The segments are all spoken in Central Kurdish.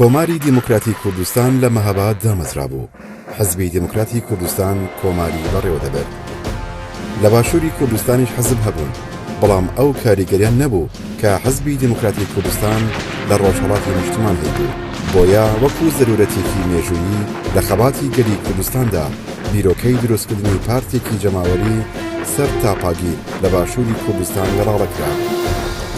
کۆماری دیموکراتی کوردستان لە مەهاباد دامەزرابوو، حزبی دیموکراتی کوردستان کۆماری بەڕێوە دەبرد. لە باشووری کوردستانیش حزب هەبوون، بەڵام ئەو کاریگەریان نەبوو کە حزبی دیموکراتی کوردستان لە ڕۆژهەڵاتی نیشتمان هەیبوو، بۆیە وەکو زەروورەتێکی مێژوویی لە خەباتی گەلی کوردستاندا بیرۆکەی دروستکردنی پارتێکی جەماوەری سەر تاپاگیر، لە باشووری کوردستان گەڵاڵەکرا.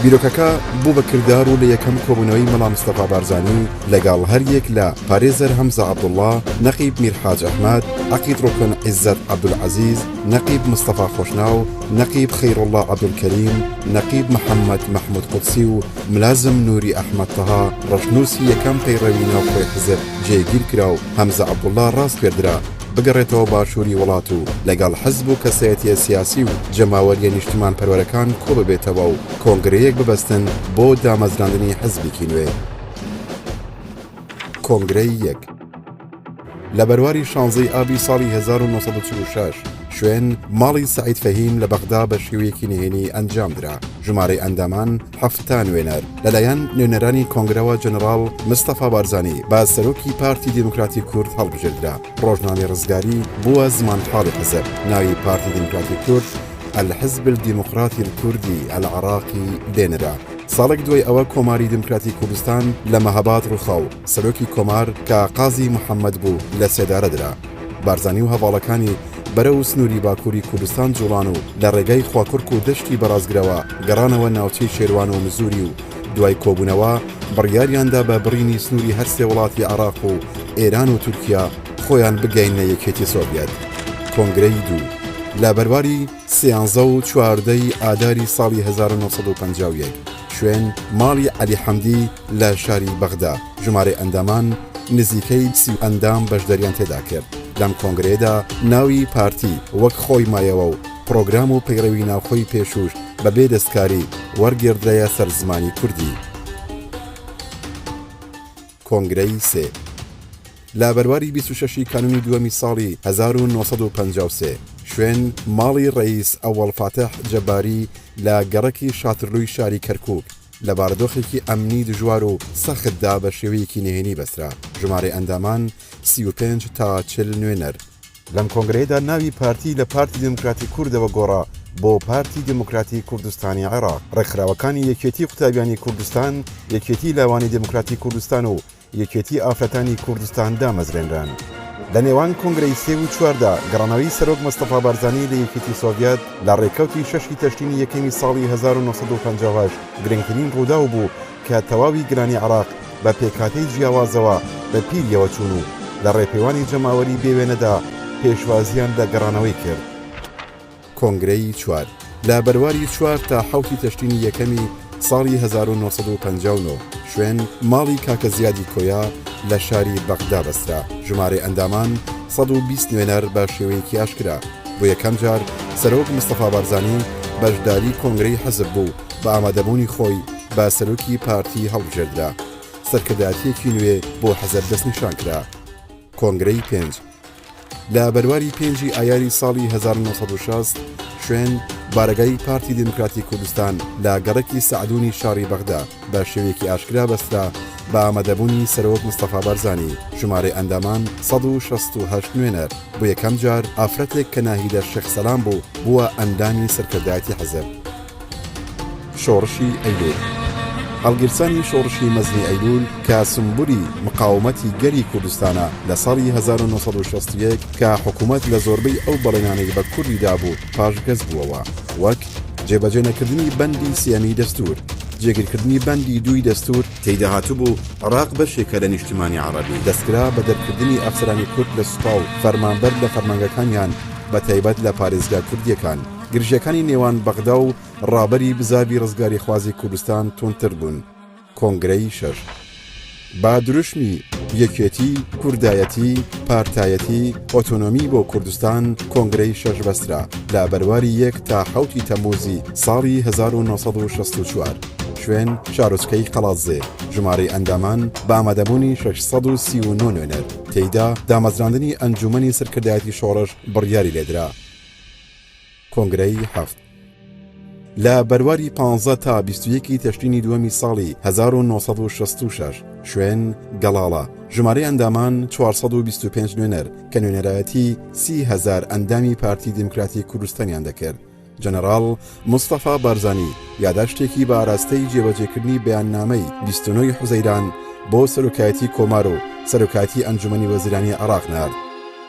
بیرۆکەکە بوو بە کردار و لە یەکەم کۆبوونەوەی مەڵا مستەفا بارزانی لەگەڵ هەر یەک لە پارێزەر هەمزە عەبدوڵا، نەقیب میر حاج ئەحمەد، عەقید ڕوکن عیزەت عەبدولعەزیز، نەقیب مستەفا خۆشناو، نەقیب خەیروڵڵا عەبدولکەریم، نەقیب محەممەد مەحموود قودسی و ملازم نووری ئەحمەد تەها، ڕەشنووسی یەکەم پەیڕەوی ناوخۆی حزب جێگیر کرا و هەمزە عەبدوڵا ڕاسپێردرا. بگەڕێتەوە باشووری وڵات و لەگەڵ حزب و کەسایەتیە سیاسی و جەماوەریە نیشتمان پەروەرەکان کۆببێتەوە و کۆنگرەیەک ببەستن بۆ دامەزراندنی حزبیکی نوێ. کۆنگرەی یەک. لە بەرواری شانزەی ئابی ساڵی هەزار و نۆ سەد و چل و شەش شوێن، ماڵی سەعید فەهیم لە بەغدا بە شێوەیەکی نهێنی ئەنجام درا. ژمارەی ئەندامان، حەفتا نوێنەر لەلایەن نوێنەرانی کۆنگرەوە جەنەڕاڵ مستەفا بارزانی بە سەرۆکی پارتی دیموکراتی کورد هەڵبژێردرا ڕۆژنامەی ڕزگاری بووە زمانحاڵی حزب ناوی پارتی دیموکراتی کورد الحزب الدیموقراتی الکوردی العراقی لێنرا ساڵێک دوای ئەوە کۆماری دیموکراتی کوردستان لە مەهاباد ڕووخاو سەرۆکی کۆمار کە قازی محەممەد بوو لە سێدارە درا. بارزانی و هەڤاڵەکانی بەرەو سنووری باکووری کوردستان جووڵان و لە ڕێگای خواکوڕک و دەشتی بەڕازگرەوە گەڕانەوە ناوچەی شێروان و مزووری و دوای کۆبوونەوە بڕیاریاندا بە بڕینی سنووری هەر سێ وڵاتی عێڕاق و ئێران و تورکیا خۆیان بگەیەننە یەکێتی سۆڤیەت. کۆنگرەی دوو. لە بەرواری سیانزە و چواردە ی ئاداری ساڵی هەزار و نۆ سەد و پەنجا و یەک. شوێن، ماڵی عەلی حەمدی، لە شاری بەغدا ژمارەی ئەندامان نزیکەی سی ئەندام بەشداریان تێدا کرد لەم کۆنگرەیەدا ناوی پارتی وەک خۆی مایەوە و پرۆگرام و پەیڕەوی ناوخۆی پێشووش بە بێ دەستکاری وەرگێردرایە سەر زمانی کوردی. کۆنگرەی سێ لە بەرواری بیست و شەشی کانونی دووەمی ساڵی هەزار و نۆ سەد و پەنجا و سێ شوێن ماڵی ڕەییس ئەوەڵ فاتح جەباری لە گەڕەکی شاترلووی شاری کەرکووک لە بارودۆخێکی ئەمنی دژوار و سەختدا بە شێوەیەکی نهێنی بەسترا، ژمارەی ئەندامان سی و پێنج تا چل نوێنەر. لەم کۆنگرەیەدا ناوی پارتی لە پارتی دیموکراتی کوردەوە گۆڕا بۆ پارتی دیموکراتی کوردستانی عێراق. ڕێکخراوەکانی یەکێتی قوتابیانی کوردستان، یەکێتی لاوانی دیموکراتی کوردستان و یەکێتی ئافرەتانی کوردستان دامەزرێنران. لە نێوان کۆنگرەی سێ و چواردا، گەڕانەوەی سەرۆک مستەفا بارزانی لە یەکێتی سۆڤیەت لە ڕێکەوتی شەشی تەشرینی یەکەمی ساڵی هەزار و نۆ سەد و پەنجا و هەشت گرنگترین ڕووداو بوو کە تەواوی گەلانی عێراق بە پێکهاتەی جیاوازەوە بە پیریەوە چوون و لە ڕێپێوانی جەماوەری بێوێنەدا پێشوازییان لە گەڕانەوەی کرد. کۆنگرەی چوار، لە بەرواری چوار تا حەوتی تشرینی یەکەمی ساڵی هەزار و نۆ سەد و پەنجا و نۆ، شوێن، ماڵی کاکە زیادی کۆیە لە شاری بەغدا بەسترا، ژمارەی ئەندامان سەد و بیست نوێنەر بە شێوەیەکی ئاشکرا، بۆ یەکەم جار سەرۆک مستەفا بارزانی بەشداری کۆنگرەی حزب بوو، بە ئامادەبوونی خۆی بە سەرۆکی پارتی هەڵبژێردرا، سەرکردایەتییەکی نوێ بۆ حزب دەستنیشان کرا. کۆنگرەی پێنج لە بەرواری پێنجی ئایاری ساڵی 1960 شوێن بارەگای پارتی دیموکراتی کوردستان لە گەڕکی سەعدونی شاری بەغدا بە شێوێکی ئاشکرا بەسترا بە ئامادەبوونی سەرۆک مستەفا بارزانانی ژمارە ئەندامان 1960 نوێنەر بۆ یەکەم جار ئافرەتێک کە ناهیدە شێخ سەلام بوو بووە ئەندامی سەرکردایەتی حەزب شۆڕشی ئەیلول هەڵگیرسانی شۆڕشی مەزنی ئەیلول کە سمبولی مقاومەتی گەلی کوردستانە لە ساڵی 1960 کە حکوومەت لە زۆربەی ئەو بەڵێنانەی بە کوردی دابوو پاشگەز بووەوە وەک جێبەجێ نەکردنی بەندی سێەمی دەستور جێگیرکردنی بەندی دووی دەستور تێیدا هاتبوو عراق بەشێکە لە نیشتیمانی عەڕەبی. دەستکرا بە دەرکردنی ئەفسەرانی کورد لە سوپا و فەرمانبەر لە فەرمانگەکانیان بە تایبەت لە پارێزگا کوردییەکان. گرژیەکانی نێوان بەغدا و ڕابەری بزاڤی ڕزگاریخوازی کوردستان توندتر بوون، کۆنگرەی شەش با دروشمی، یەکێتی، کوردایەتی، پارتایەتی، ئۆتۆنۆمی بۆ کوردستان، کۆنگرەی شەش بەسترا لە بەرواری یەک تا حەوتی تەمووزی ساڵی هەزار و نۆ سەد و شەست و چوار. شوێن، شارۆچکەی قەڵادزێ. ژمارەی ئەندامان، بە ئامادەبوونی شەش سەد و سی و نۆ نوێنەر. تێیدا دامەزراندنی ئەنجوومەنی سەرکردایەتی شۆڕش بڕیاری لێدرا. کۆنگرەی هەفت لە بەرواری پانزە تا بیست و یەکی تەشرینی دووەمی ساڵی هەزار و نۆ سەد و شەست و شەش شوێن گەڵاڵە ژمارەی ئەندامان چوار سەد و بیست و پێنج نوێنەر کە نوێنەرایەتی سی هەزار ئەندامی پارتی دیموکراتی کوردستانیان دەکرد جەنەڕاڵ مستەفا بارزانی یاداشتێکی بە ئاراستەی جێبەجێکردنی بەیاننامەی بیست و نۆی حوزەیران بۆ سەرۆکایەتی کۆمار و سەرۆکایەتی ئەنجومەنی وەزیرانی عێراق نارد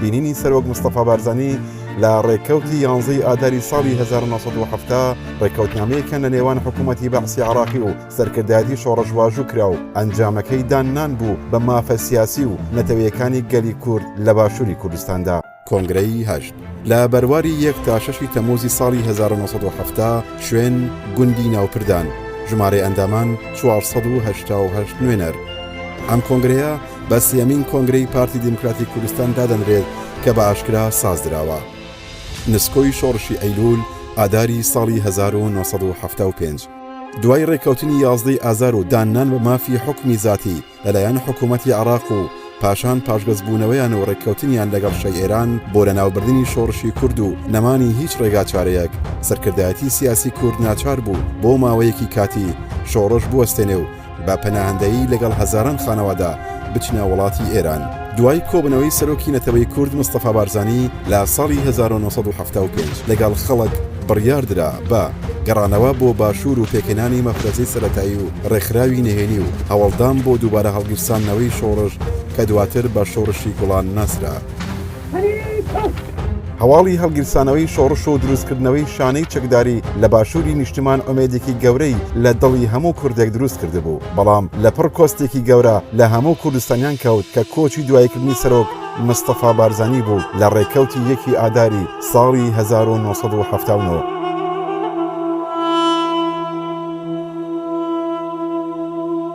بینینی سەرۆک مستەفا بارزانی لە ڕێککەوتی یانزەی ئاداری ساڵی 1970 ڕێککەوتنامەیەکە لە نێوان حکوومەتی بەعسی عراقی و سەرکردایەتی شۆڕش واژوو کرا و ئەنجامەکەی داننان بوو بە مافە سیاسی و نەتەوەیەکانی گەلی کورد لە باشووری کوردستاندا. کۆنگرەی هەشت لە بەرواری یەک تا شەشی تەمووزی ساڵی 1970 شوێن، گوندی ناوپردان، ژمارەی ئەندامان، چوار سەد و هەشتا و هەشت نوێنەر. ئەم کۆنگرەیە، بە سێیەمین کۆنگرەی پارتی دیموکراتی کوردستان دادەنرێت کە بە ئاشکرا سازدراوە نسکۆی شۆڕشی ئەیلول ئاداری ساڵی 1970 دوای ڕێککەوتنی یازدەی ئازار و داننان بە مافی حکمی زیاتی لەلایەن حکوومەتتی عراق و پاشان پاشگەزبوونەوەیان و ڕێککەوتنیان لەگەڵ شەی ئێران بۆ لە ناوبردننی شۆڕشی کورد و نەمانی هیچ ڕێگا چارەیەک سەرکردایەتی سیاسی کورد ناچار بوو بۆ ماوەیەکی کاتی شۆڕش بوەستێنێ و بە پەناهەندەیی لەگەڵ هەزاران خانەوادە بچنە وڵاتی ئێران. دوای کۆبوونەوەی سەرۆکی نەتەوەی کورد مستەفا بارزانی لە ساڵی هەزار و نۆ سەد و حەفتا و پێنج لەگەڵ خەڵک بڕیار درا بە گەڕانەوە بۆ باشوور و پێکهێنانی مەفرەزەی سەرەتایی و ڕێکخراوی نهێنی و هەوڵدان بۆ دووبارە هەڵگیرساندنەوەی شۆڕش کە دواتر بە شۆڕشی گوڵان ناسرا. هەواڵی هەڵگیرسانەوەی شۆڕش و دروستکردنەوەی شانەی چەکداری لە باشووری نیشتمان ئۆمێدێکی گەورەی لە دڵی هەموو کوردێک دروست کردبوو، بەڵام لە پڕ کۆستێکی گەورە لە هەموو کوردستانیان کەوت کە کۆچی دواییکردنی سەرۆک مستەفا بارزانی بوو لە ڕێکەوتی یەکی ئاداری ساڵی هەزار و نۆ سەد و حەفتا و نۆ.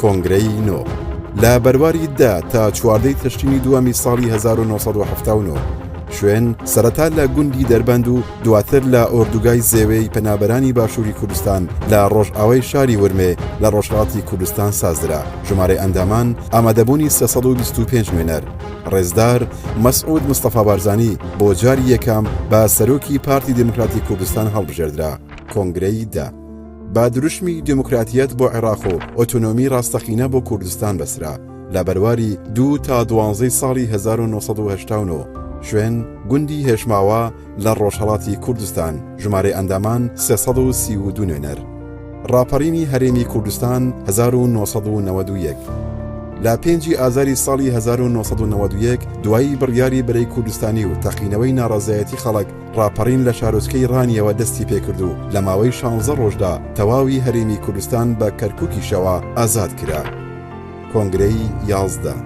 کۆنگرەی نۆ، لە بەرواری دە تا چواردە ی تشرینی دووەمی ساڵی هەزار و نۆ سەد و حەفتا و نۆ، شوێن، سەرەتا لە گوندی دەربەند و دواتر لە ئۆردوگای زێوێ ی پەنابەرانی باشووری کوردستان لە ڕۆژئاوای شاری ورمێ لە ڕۆژهەڵاتی کوردستان سازدرا. ژمارەی ئەندامان، ئامادەبوونی سێ سەد و بیست و پێنج نوێنەر. ڕێزدار مەسعود مستەفا بارزانی بۆ جاری یەکەم بە سەرۆکی پارتی دیموکراتی کوردستان هەڵبژێردرا. کۆنگرەی دە. با دروشمی دیموکراتیەت بۆ عێراق و ئۆتۆنۆمی ڕاستەقینە بۆ کوردستان بەسرا لە بەرواری دوو تا دوانزەی ساڵی 1970 شوێن گوندی هێشماوە لە ڕۆژهڵاتی کوردستان ژمارەی ئەندامان 332 نوێنەر ڕاپەڕینی هەرێمی کوردستان 1991 لە پێنجی ئازاری ساڵی 1991 دوایی بڕیاری بەرەی کوردستانی و تەقینەوەی ناڕازایەتی خەڵک ڕاپەڕین لە شارۆچکەی ڕانیەوە دەستی پێکرد و لە ماوەی شانزە ڕۆژدا تەواوی هەرێمی کوردستان بە کەرکوکیشەوە ئازاد کرا. کۆنگرەی یازدە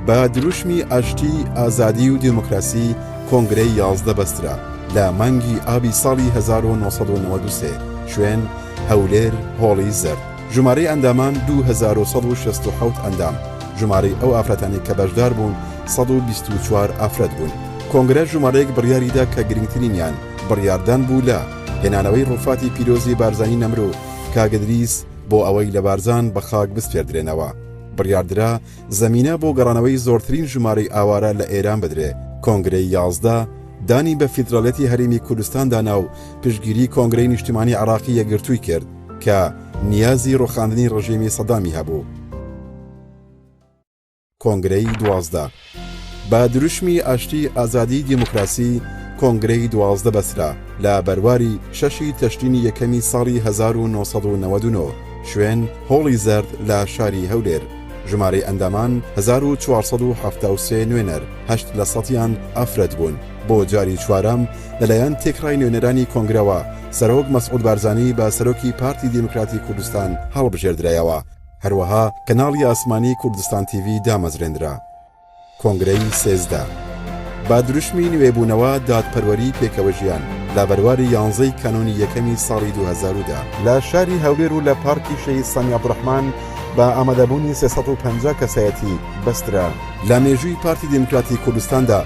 بە دروشمی ئاشتی، ئازادی و دێموکراسی کۆنگرەی یازدە بەسترا لە مانگی ئابی ساڵی هەزار و نۆ سەد و نەوەد و سێ شوێن، هەولێر، هۆڵی زەرد. ژمارەی ئەندامان دوو هەزار و سەد و شەست و حەوت ئەندام، ژمارەی ئەو ئافرەتانەی کە بەشدار بوون سەد و بیست و چوار ئافرەت بوون. کۆنگرە ژمارەیەک بڕیاری دا کە گرنگترینیان بڕیاردان بوو لە هێنانەوەی ڕووفاتی پیرۆزی بارزانی نەمر و کاک ئدریس بۆ ئەوەی لە بارزان بە خاک بسپێردرێنەوە. بڕیاردرا زەمینە بۆ گەڕانەوەی زۆرترین ژمارەی ئاوارە لە ئێران بدرێ. کۆنگرەی یازدە دانی بە فیدراڵیەتی هەرێمی کوردستان دانا و پشتگیری کۆنگرەی نیشتمانی عێڕاقی یەکگرتووی کرد. کە نیازی ڕوخاندنی ڕژێمی سەدامی هەبوو. کۆنگرەی دوازدە بە دروشمی ئاشتی ئازادی دیموکراسی کۆنگرەی دوازدە بەسرا لە بەرواری شەشی تەشرینی یەکەمی ساڵی 1999 شوێن هۆڵی زەرد لە شاری هەولێر ژمارەی ئەندامان 1473 نوێنەر هەشت لە سەدیان ئافرەت بوون. بۆ جاری چوارەم لەلایەن تێکڕای نوێنەرانی کۆنگرەوە سەرۆک مەسعود بارزانی بە سەرۆکی پارتی دیموکراتی کوردستان هەڵبژێردرایەوە هەروەها کەناڵی ئاسمانی کوردستان تیڤی دامەزرێنرا کۆنگرەی سێزدە با دروشمی نوێبوونەوە دادپەروەری پێکەوە ژیان لە بەرواری یانزەی کانونی یەکەمی ساڵی 2010دا لە شاری هەولێر و لە پارکی شەهید سامی عەبدوڕەحمان بە ئامادەبوونی 350 کەسایەتی بەسترا لە مێژووی پارتی دیموکراتی کوردستاندا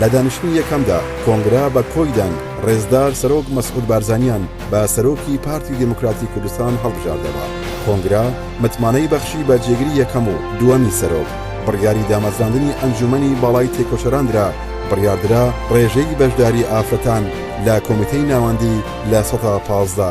لە دانیشتنی یەکەمدا کۆنگرە بە کۆیدان ڕێزدار سەرۆک مەسعود بارزانیان بە سەرۆکی پارتی دیموکراتی کوردستان هەڵبژاردەوە. کۆنگرە متمانەی بەخشی بە جێگری یەکەم و دووەمی سەرۆک، بڕیاری دامەزراندنی ئەنجوومەنی باڵای تێکۆشەران درا، بڕیاردرا ڕێژەی بەشداری ئافرەتان لە کۆمیتەی ناوەندی لە سەدا پازدە.